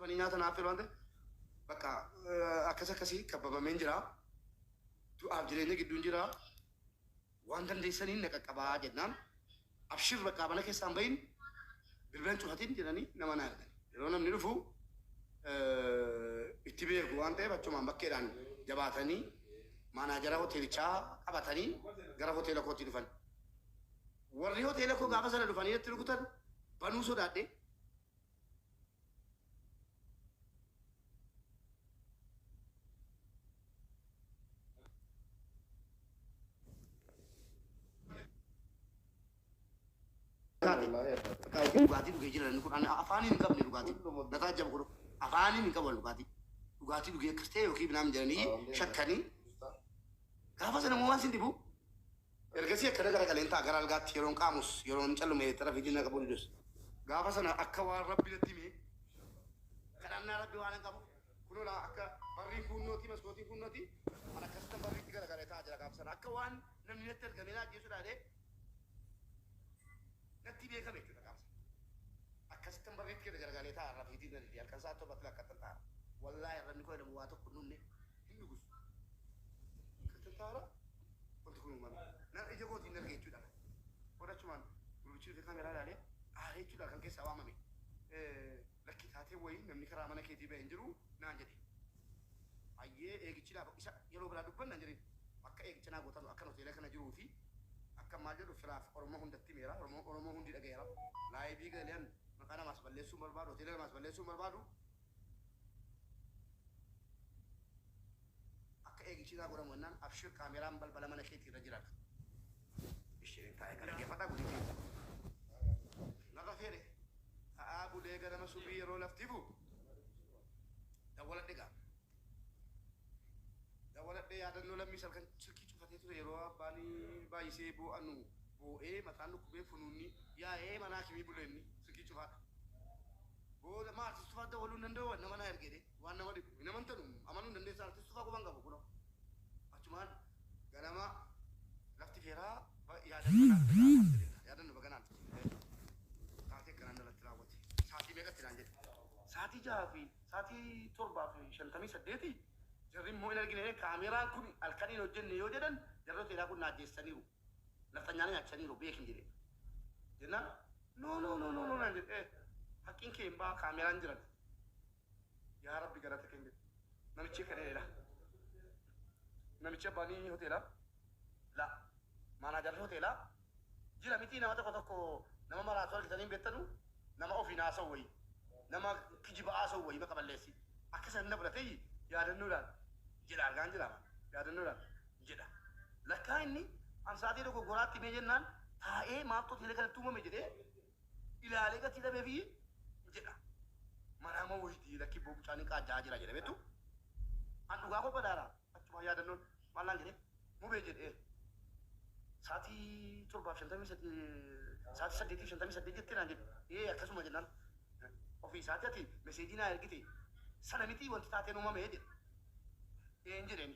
Ani nyaata naaf fedhu waan ta'eef bakka akkas akkasii kabbabameen jira. Du'aaf jireenya gidduun jira. Waan dandeessaniin na qaqqabaa jennaan abshir bakka mana keessaan bahin bilbilan cufatiin jedhanii nama naa ergan. Yeroo namni dhufu itti beeku waan ta'eef achumaan bakkeedhaan jabaatanii maanaajara hoteelichaa qabatanii gara hoteela kootti dhufan. Warri hoteela koo gaafa sana dhufanii natti rukutan banuu sodaadhee dhugaatii dhugee jira namni kun ani afaaniin hin qabne dhugaatii dataa jaba godhu afaaniin hin qaban dhugaatii dhugaatii dhugee akkas ta'e yookiin binaan jedhanii shakkanii gaafa sana immoo waan sin dhibu Ergasii akka na garagaleen ta'a gara algaatti yeroon qaamus yeroon callume xara fi jinna qabu didus. Gaafa sana akka waan Rabbi natti himee kadhannaa Rabbi waanan qabu kunoo laa akka barrii fuunnootii maskootiin fuunnootii an akkasittan barriitti garagale ta'a jira gaafa sana akka waan namni natti ergamee na ajjeesudha jedhee Natti beekame jechuudha qaama isaa. Akkasittan barriitti kenna garagalee taa'a irra fiitiin nan hidhi halkan sa'a torba fila akkattan taa'a. Wallaahi arrabni koo jedhamu waa tokko hin dhumne hin dhugus. Akkattan taa'a irra wanti kun uumame. Nan ija kootiin arge jechuudha kan. Booda achumaan gurbichi dhufee kaameraa ilaalee aaree jechuudha kan keessaa waamame. Lakki taatee wayii namni karaa mana keetii bahe hin jiru naan jedhe. Hayyee eegichi naaf isa yeroo biraa dubbanna hin jedhin. Bakka eegicha naa gootan akkan hoteela kana jiruu fi akkan maal jedhu firaaf Oromoo hundatti himeera. Oromoo hundi dhagaheera. Laayivii galeen maqaa namaas balleessuu hin barbaadu, hoteela namaas balleessuu hin barbaadu. Akka eegichi naa godhamu jennaan Abshir kaameeraan balbala mana keetii irra jira. Isheen taa'e kana dhaggeeffadhaa gudii keenya. Naqa fedhe ta'aa bulee ganama subii yeroo lafti bu. Dawwaladhe gaa. Dawwaladhe yaadannoo lammii salkan silkii cufatee ture yeroo abbaan baay'isee boo'anu boo'ee mataan dhukkubee funuunni yaa'ee mana hakimii buleenni silkii cufaadha. Booda maal sistumaa dawwaluu hin danda'u nama naa ergee. Waan nama dhibu hin amantanu amanuu hin dandeessan artist tufaa quban qabu kuno achumaan ganama lafti feeraa ba yaadanno naaf tataa alhamdulillah yaadanno baga naaf tateef taatee akkanaa narratti raawwate saatii meeqatti naan jedhe saatii jahaa fi saatii torbaa fi shantamii saddeeti jarri immoo hin argine kaameeraan kun halkan hin hojjenne yoo jedhan jarri hoteelaa kun na ajjeessaniiru nafxanyaa na nyaachaniiru beekin jedheen jennaan no no no no no naan jedhe haqqiin kee hin baha kaameeraan jiran Yaa rabbi galata kenni namichii kan eela namichi abbaani hoteela la maanaajarri hoteela jira mitii nama tokko tokko nama maraatu argitanii hin bettanu nama ofiin haasawu wayii nama kijiba haasawu wayii maqa balleessi akka san hin dabra ta'ii yaadannoodhaan jedha argaan jira maa yaadannoodhaan jedha lakkaa inni an saatii dogoggoraatti himee jennaan taa'ee maaltu hoteela kanatti uumame jedhee ilaalee gatii dhabeefi jedha manaa moo woyitii lakki boo mucaa ni qaajja'aa jira jedha beektu an dhugaa koo badaara achumaa yaadannoon maal naan jedhe mubee jedhee saatii torbaaf shantamii sadii saatii saddeetiif shantamii saddeet jettee naan jedhe ee akkasuma jennaan ofii isaati ati meseejii naa ergite sana mitii wanti taateen uumame jedhe een jedheeni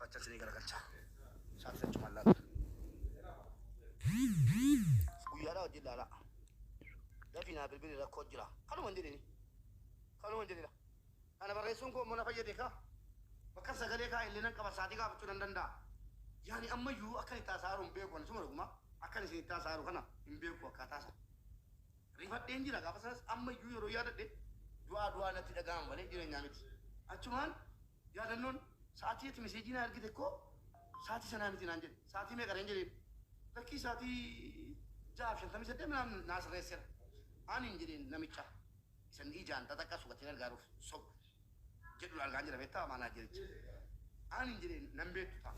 Acha sini garagalcha. Saaf sachu mallaaf. Guyyaadhaa wajjin laalaa. Dafii naa bilbili rakkoo jira. Kanuma hin jedhini. Kanuma hin jedhina. Kana barreessuun koo immoo na fayyade kaa. Bakka sagalee kaa illee nan qaba saatii gaafachuu nan danda'a. Yaani ammayyuu akkan itti haasa'aa jiru hin beeku ani suma dhugumaa. Akkan isin itti haasa'aa jiru kana hin beeku akkaataa isaa. Rifadheen jira gaafa sanas ammayyuu yeroo yaadadhe du'aa du'aa natti dhaga'ama malee jireenyaa miti. Achumaan Yaadannoon, Sa'aatii ati meseejii naa ergite koo sa'aatii sanaa miti naan jedhe. Sa'aatii meeqa reen jedheen. Lakkii sa'aatii 6:58 minaamin naa sirreessera aaniin jedheen namicha isan ijaan xaxaqqaa subateen argaaruuf sobu jedhun argaan jira beektaa maanaajericha aaniin jedheen nan beektu taa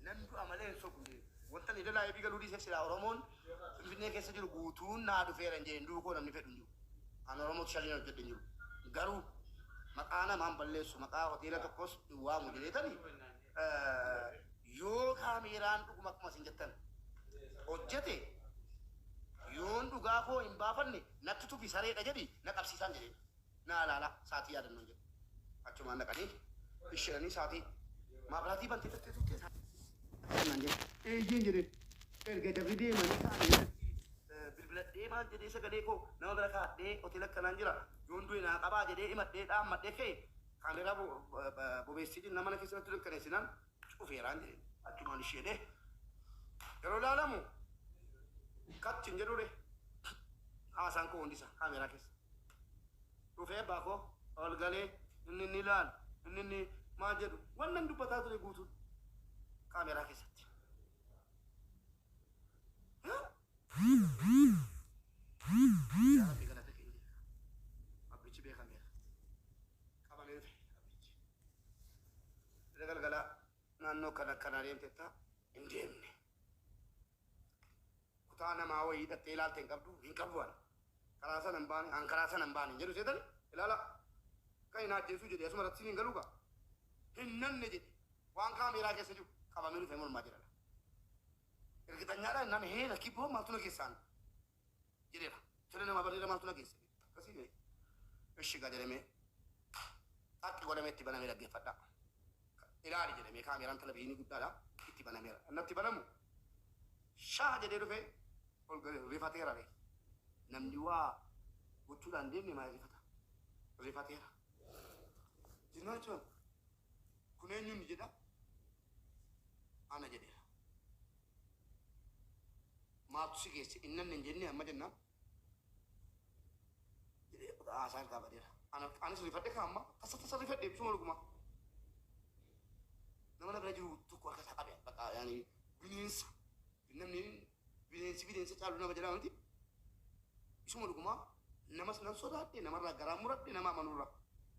nan du'a malee hin sobu jedheen wantan edalaa eebii galuu dhiiseef silaa oromoon finfinnee keessa jiru guutuun naa dhufeeran jedheen du'uu koo namni fedhu hin jiru. An Oromotu Shaneen hojjedhe hin jiru. Garuu maqaa namaa hin balleessu, maqaa hoteela tokkos hin waamu jedheetani yoo kaameeraan dhuguma akkuma isin jettan hojjete yoon dhugaa koo hin baafanne natti tufi sareedha jedhi na qabsiisaan jedheen. Naa ilaalaa saatii yaadannoon jedhe. Achumaan dhaqanii isheenanii saatii maabraatii bantee turtee turtee saatii naan jedhe. Eeyyeen jedhee erga jarri deemanii taa'anii irratti bilbiladhee maal jedhee sagalee koo nama bira kaadhee hoteela akkanaan jira yoon du'e naa qabaa jedhee himadhee dhaammadhee ka'e kaameeraa bobeessiitiin nama na keessa natti dukkaneessinaan cufeeraan jedhe. Achumaan ishi jedhee yeroo ilaalamu cut hin jedhuu ree? Haasaan koo hundi isaa kaameeraa keessa. Dhufee abbaa koo ol galee inni inni ilaalu inni inni maal jedhu wannan dubbataa ture guutuun kaameeraa keessatti. Yaa Rabbi galata keenya. Rabbichi beekameera. qabamee dhufe abbichi. Gara galgalaa naannoo kan akkanaa deemtetta hin deemne. Kutaa namaa wayii dhattee ilaalte hin qabdu hin qabu an. Karaa sana hin baane an karaa sana hin baane hin jedhu seetan ilaala kan hin ajjeesuu jedhe asuma irratti siin hin galuu gaa. Hin nanne jedhe waan kaameeraa keessa jiru qabamee dhufe mormaa jedhala. Irgitanyaadha nan heena kibboo maaltu na keessaan jedheera. Siree namaa barreera maaltu na geesse? Akkasii mee? Ishi egaa jedhee mee xaqqi godhamee itti banamee dhaggeeffadhaa. Ilaali jedhe mee kaameeraan televizyinii guddaadha itti banameera. Innatti banamu shaah jedhee dhufee ol galee rifateera ree. Namni waa gochuudhaan deemne maal rifata? Rifateera. Jennaan jechuun Kun eenyuun jedha? Ana jedheera. Maaltu si geesse? Inni anna hin jennee amma jennaan? jedhee bakka haasaa irraa badeera. Ana, anis rifadhe kaa amma tasa tasa rifadhe ibsuma dhugumaa. Nama na bira jiru tokko harka isaa qabe bakka yaani bineensa. Namni Bineensi bineensa caalu nama jalaa miti. Isuma dhugumaa namas nan sodaadhe namarraa garaan muradhe nama amanurra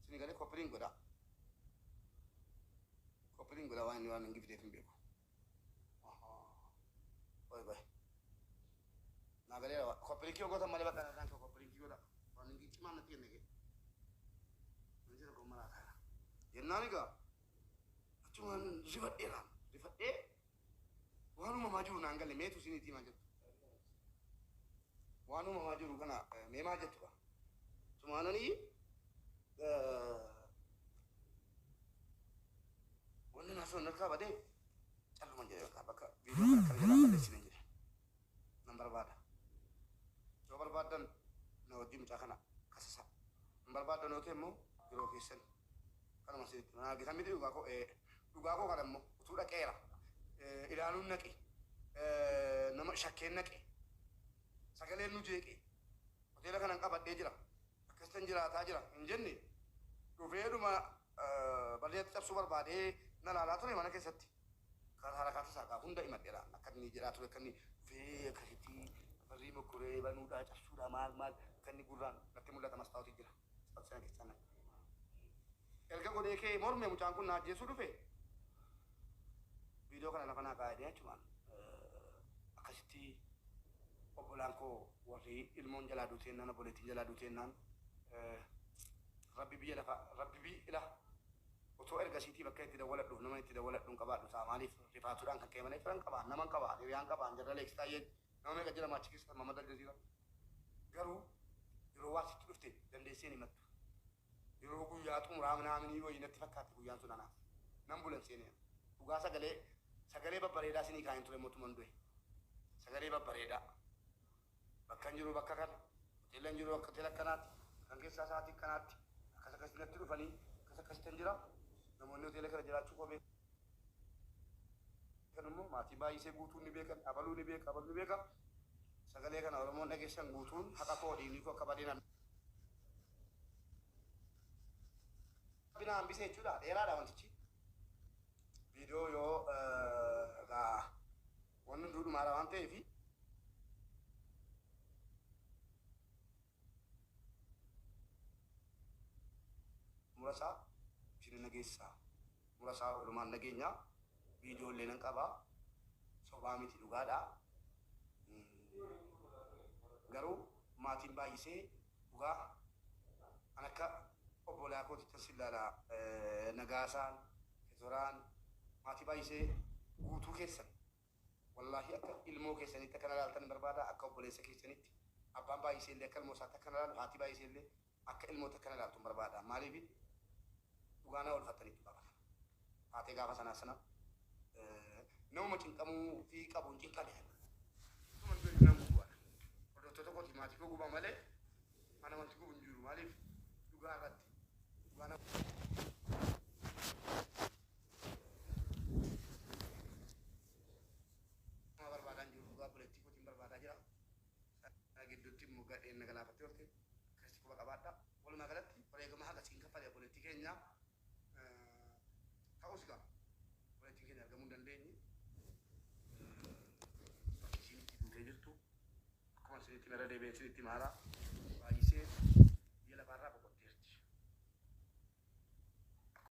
sini galee koppiliin godhaa koppiliin godhaa waan inni waan hangi fideef hin beeku. Qoy qoy naa galee waa koppiliinkii yoo gootan malee bakka kanaan koo koppiliinkii godhaa waan hangi cimaan natti kenne kee wanti tokko maraa taana jennaan egaa achumaan rifadhee naan rifadhee Waan uumamaa jiru naan galle meetu isiniitii maa jettu? Waan uumamaa jiru kana mee maa jettu kaa? Sumaananii wanni naa sun narkaa badee calluman jedhe bakka bakka viidiyoo kana kana jalaa balleessine jedhe nan barbaada yoo barbaaddan na wajjin mucaa kana kasasa hin barbaaddan yoo ta'e immoo yeroo keessan Kanuma si jechuun. Haa gitan miti dhugaa koo ee. Dhugaa koo kana immoo utuu dhaqeera ilaaluun naqe nama shakkeen naqe sagaleen nu jeeqe hoteela kanan qabadhee jira akkasitan jiraataa jira hin jenne dhufee dhuma balli natti cabsuu barbaadee na laalaa ture mana keessatti kan harakaata isaa kaa hunda himadheera akka inni jedhaa ture akka inni dhufee akkasitti barrii mokkoree banuudhaa cabsuudhaa maal maal akka inni gurraan natti mul'ata mastaawotii jira. Subscribe kee channel erga godhee kee morme mucaan kun na ajjeesuu dhufe video kana lafa naa kaa'ee achumaan akkasitti obbolaan koo warri ilmoon jalaa duutee jennaan obboleettiin jalaa duutee jennaan rabbi biyya lafa rabbi bi ila otoo ergasiitii bakka itti dawwaladhuuf nama itti dawwaladhuun qabaadhu ta'a maaliif rifaatuudhaan kan ka'e malee firan qabaan naman qabaan hiriyaan qabaan jarra leeksitaayyeen Nama meeqa jira maachi keessa tamma madda aljaziiraa? Garuu yeroo waan sitti dhufte dandeesseen himattu. Yeroo guyyaa xumuraa minaaminii wayii natti fakkaatti guyyaan sun anaaf. Nan bulen seenee an. Dhugaa sagalee sagalee babbareedaa isinii kaa'een ture immoo tuman du'e. Sagalee babbareedaa. Bakkan jiru bakka kana. Hoteellan jiru akka hoteela akkanaati. Halkan keessaa sa'aatii akkanaatti. Akkas akkasitti natti dhufanii akkas akkasittan jira. Namoonni hoteela kana jiraachuu koo beeku. Kan immoo maatii baayisee guutuun ni beekan abaluu ni beeka abaluu ni beeka sagalee kana oromoon dhageessan guutuun haqa koo dhiigni koo akka badee na rabbi na hambisee jechuudha dheeraadha wantichi viidiyoo yoo egaa wanni hunduu dhumaadha waan ta'eef murasaa isin hin dhageessisaa. murasaa walumaan dhageenya video illee nan qaba sobaa miti dhugaadha garuu maatiin baay'isee dhugaa an akka obboolaa kootittan sin laala nagaasaan, kizoraan, maatii baay'isee guutuu keessan. Wallaahii akka ilmoo keessaniitti akka na laaltan barbaada, akka obboleessa keessaniitti. Abbaan Baay'isee illee akka ilmoo isaatti akka na laalu, haati Baay'isee illee akka ilmootti akka na laaltun barbaada. Maaliif? Dhugaa na oolfattaniittu gaafa sana. Taatee gaafa sanaa sana namuma cinqamuu fi qabu hin cinqame ani. Utuman du'e nan gubu ana. Hordoftoota kootiif maatii koo guba malee ana wanti gubu hin jiru. Maaliif? Dhugaa irratti. Dhugaa na Nama barbaadaan jiru dhugaa obboleettii kootiin barbaadaa jira. Sana gidduutti immoo gadheen na galaafattee oolte. Akkasitti quba qabaadhaa. Walumaa galatti wareegama haga siin kaffale obboleettii keenya. Ta'us egaa obboleettiin keenya argamuu hin dandeenye. Bakki isiin itti duutee jirtu akkuma isinitti hime irra deebi'ee isinitti hima haaraa baay'isee biyya lafaarraa boqotteerti.